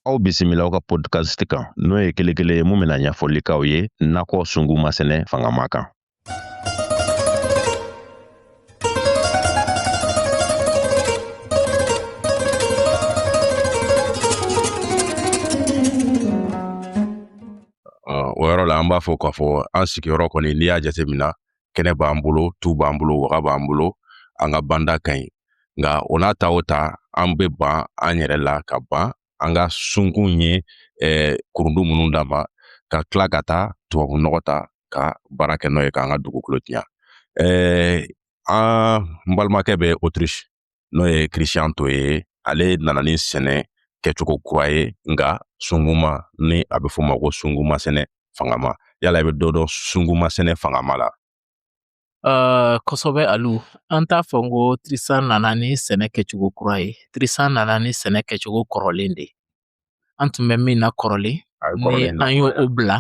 aw bisimila aw ka podcast kan n'o ye kelen kelen ye mun bɛna ɲɛfɔli k'aw ye nakɔ sunguma sɛnɛ fangama kan o yɔrɔ la an b'a fɔ k'a fɔ an sigiyɔrɔ kɔni n'i y'a jateminɛ kɛnɛ b'an bolo tu b'an bolo waga b'an bolo an ka banda ka ɲi nka o n'a ta o ta an bɛ ban an yɛrɛ la ka ban an ka sunkun ye eh, kurundu minnu d'a ma ka tila ka taa tubabu nɔgɔ ta ka baara kɛ n'o ye k'an ka dugukolo tiɲa eh, an balimakɛ bɛ autriche n'o ye christian toe ye ale nana ni sɛnɛ kɛcogo kura ye nka sunguma ni a bɛ f'o ma ko sunguma sɛnɛ fangama yala i bɛ dɔ dɔn sunguma sɛnɛ fangama la Uh, kosɔbɛ alu an t'a fɔ ko tristan nana ni sɛnɛ kɛcogo kura ye tristan nana ni sɛnɛ kɛcogo kɔrɔlen de an tun bɛ min na kɔrɔlen ni an y'o bila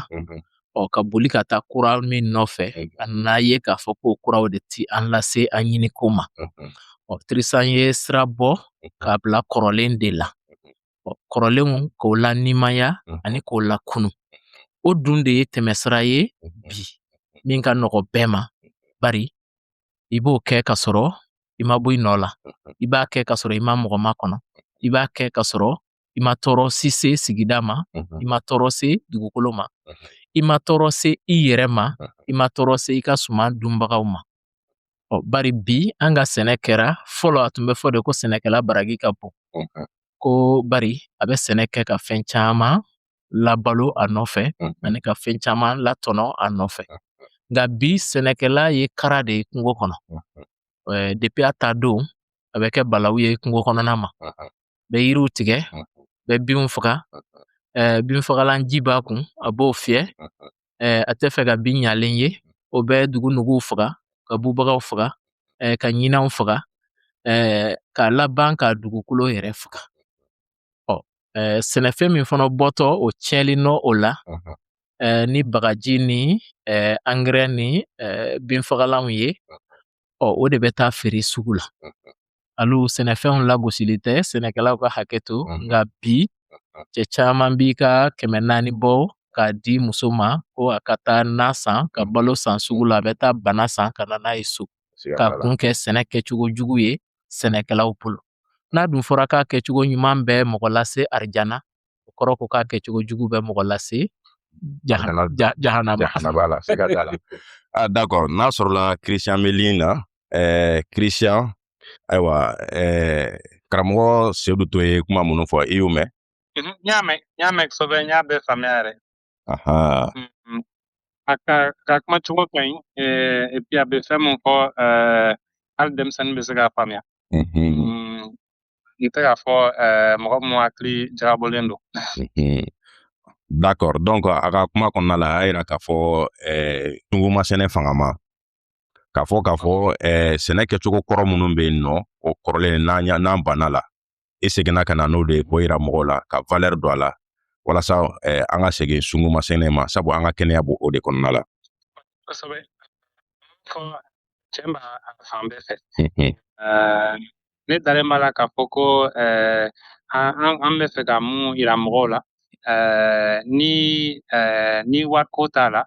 ɔ ka boli ka taa kura min nɔfɛ an nan'a ye k'a fɔ ko kuraw de ti an lase an ɲiniko ma ɔ tristan ye sira bɔ k'a bila kɔrɔlen de la ɔ kɔrɔlenw k'o lanimaya ani k'o lakunu o dun de ye tɛmɛsira ye bi min ka nɔgɔ bɛɛ ma bari i b'o kɛ ka sɔrɔ i ma bɔ i nɔ la i b'a kɛ ka sɔrɔ i ma mɔgɔ makɔnɔ i b'a kɛ ka sɔrɔ i ma tɔɔrɔ si se sigida ma i ma tɔɔrɔ se dugukolo ma i ma tɔɔrɔ se i yɛrɛ ma i ma tɔɔrɔ se i ka suman dunbagaw ma ɔ bari bi an ka sɛnɛ kɛra fɔlɔ a tun bɛ fɔ de ko sɛnɛkɛla baragi ka bon ko bari a bɛ sɛnɛ kɛ ka fɛn caman labalo a nɔfɛ ani ka fɛn caman latɔnɔ a nɔfɛ nka bi sɛnɛkɛla ye kara de ye kungo kɔnɔ depuis a taa don a bɛ kɛ balawu ye kungo kɔnɔna ma bɛ yiriw tigɛ bɛ binw faga binfagalan ji b'a kun a b'o fiyɛ a tɛ fɛ ka bin ɲalen ye o bɛ dugu nuguw faga ka bubagaw faga ka ɲinanw faga ka laban ka dugukolo yɛrɛ faga ɔ sɛnɛfɛn min fana bɔtɔ o tiɲɛli nɔ o la ni bagaji ni angɛrɛ ni binfagalanw ye ɔ o de bɛ taa feere sugu la alu sɛnɛfɛnw lagosili tɛ sɛnɛkɛlaw ka hakɛ to nka bi cɛ caman b'i ka kɛmɛ naani bɔ k'a di muso ma ko a ka taa na san ka balo san sugu la a bɛ taa bana san ka na n'a ye so k'a kun kɛ sɛnɛ kɛcogo jugu ye sɛnɛkɛlaw bolo n'a dun fɔra k'a kɛcogo ɲuman bɛ mɔgɔ lase arijana o kɔrɔ ko k'a kɛ cogo jugu bɛ mɔgɔ lase jahanama la siga t'a la ah, d'accord n'a sɔrɔla christian bɛ ligne na ɛɛ christian ayiwa ɛɛ karamɔgɔ sedu to ye kuma minnu fɔ i y'u mɛn n y'a mɛn n y'a mɛn kosɛbɛ n y'a bɛɛ faamuya yɛrɛ Aha. Mm, a ka ka kuma cogo ka ɲi epi a bɛ fɛn min fɔ hali denmisɛnnin bɛ se k'a faamuya mm, n tɛ k'a fɔ mɔgɔ min hakili jagabɔlen don d'accord donc a ka kuma kɔnɔna la a y'a jira k'a fɔ sunguma sɛnɛ fanga ma k'a fɔ k'a fɔ sɛnɛ kɛcogo kɔrɔ minnu bɛ yen nɔ o kɔrɔlen n'an n'an banna la i seginna ka na n'o de ye k'o yira mɔgɔw la ka valɛri don a la walasa eh, an ka segin sunguma sɛnɛ ma sabu an ka kɛnɛya b'o o de kɔnɔna la kosɛbɛ forcément fan bɛɛ fɛ ne dalen b'a la k'a fɔ ko eh, an bɛ fɛ ka mun yira mɔgɔw la eh, ni eh, ni wariko t'a la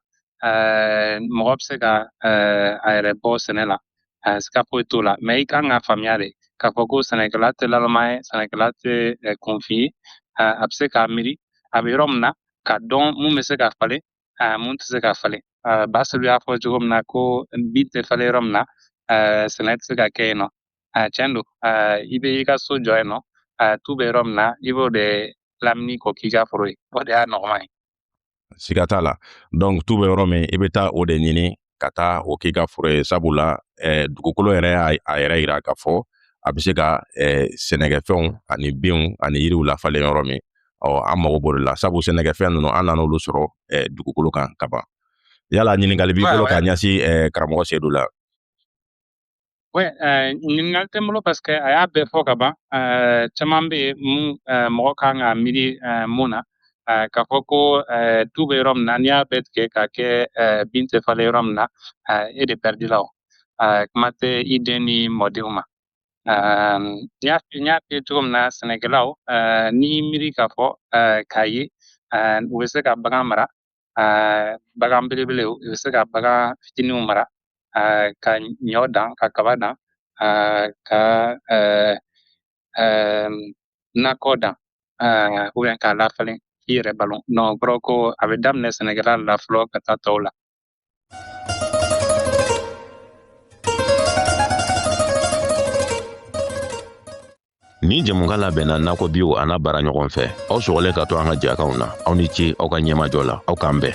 mɔgɔ bɛ se ka a yɛrɛ bɔ sɛnɛ la eh, siga foyi t'o la mɛ i kan ka faamuya de k'a fɔ ko sɛnɛkɛla tɛ lalama ye sɛnɛkɛla tɛ eh, kunfin ye eh, a bɛ se k'a miiri a bɛ yɔrɔ min na k'a dɔn mun bɛ se ka falen mun tɛ se ka falen ba sedu y'a fɔ cogo min na ko bin tɛ falen yɔrɔ min na sɛnɛ tɛ se ka kɛ yen nɔ tiɲɛ don i bɛ i ka so jɔ yen nɔ tu bɛ yɔrɔ min na i b'o de lamini k'o k'i ka foro ye o de y'a nɔgɔman ye siga t'a la donc tu bɛ yɔrɔ min i bɛ taa o de ɲini ka taa o k'i ka foro ye sabula eh, dugukolo yɛrɛ y'a a yɛrɛ yira k'a fɔ a bɛ se ka eh, sɛnɛkɛfɛnw ani binw ani yiriw lafalen yɔrɔ min ɔ an mago b'o de la sabu sɛnɛkɛfɛn ninnu an nan'olu sɔrɔ eh, dugukolo kan ka ban yala ɲininkali b'i bolo k'a ɲɛsin eh, karamɔgɔ sedu la Oui, euh, ɲininkali tɛ n bolo parce que a y'a bɛɛ fɔ ka ban euh, caman bɛ yen mun euh, mɔgɔ kan ka miiri euh, mun na euh, k'a fɔ ko euh, tu bɛ yɔrɔ min na n'i y'a bɛɛ tigɛ k'a kɛ euh, bin tɛ falen yɔrɔ min na euh, e de pɛridila o euh, kuma tɛ i den ni mɔdenw ma euh, n y'a n y'a f'i ye cogo min na sɛnɛkɛlaw euh, n'i miiri k'a fɔ euh, k'a ye euh, u bɛ se ka bagan mara bagan belebelew i bɛ se ka bagan fitiniw mara ka ɲɔ dan ka kaba dan ka nakɔ dan k'a lafalen i yɛrɛ balo don o kɔrɔ ko a bɛ daminɛ sɛnɛkɛla la fɔlɔ ka taa tɔw la Nin jɛmukan labɛnna nakɔ bio an'a baaraɲɔgɔn fɛ aw sɔgɔlen ka to an ka jɛkanw na aw ni ce aw ka ɲɛmajɔ la aw k'an bɛn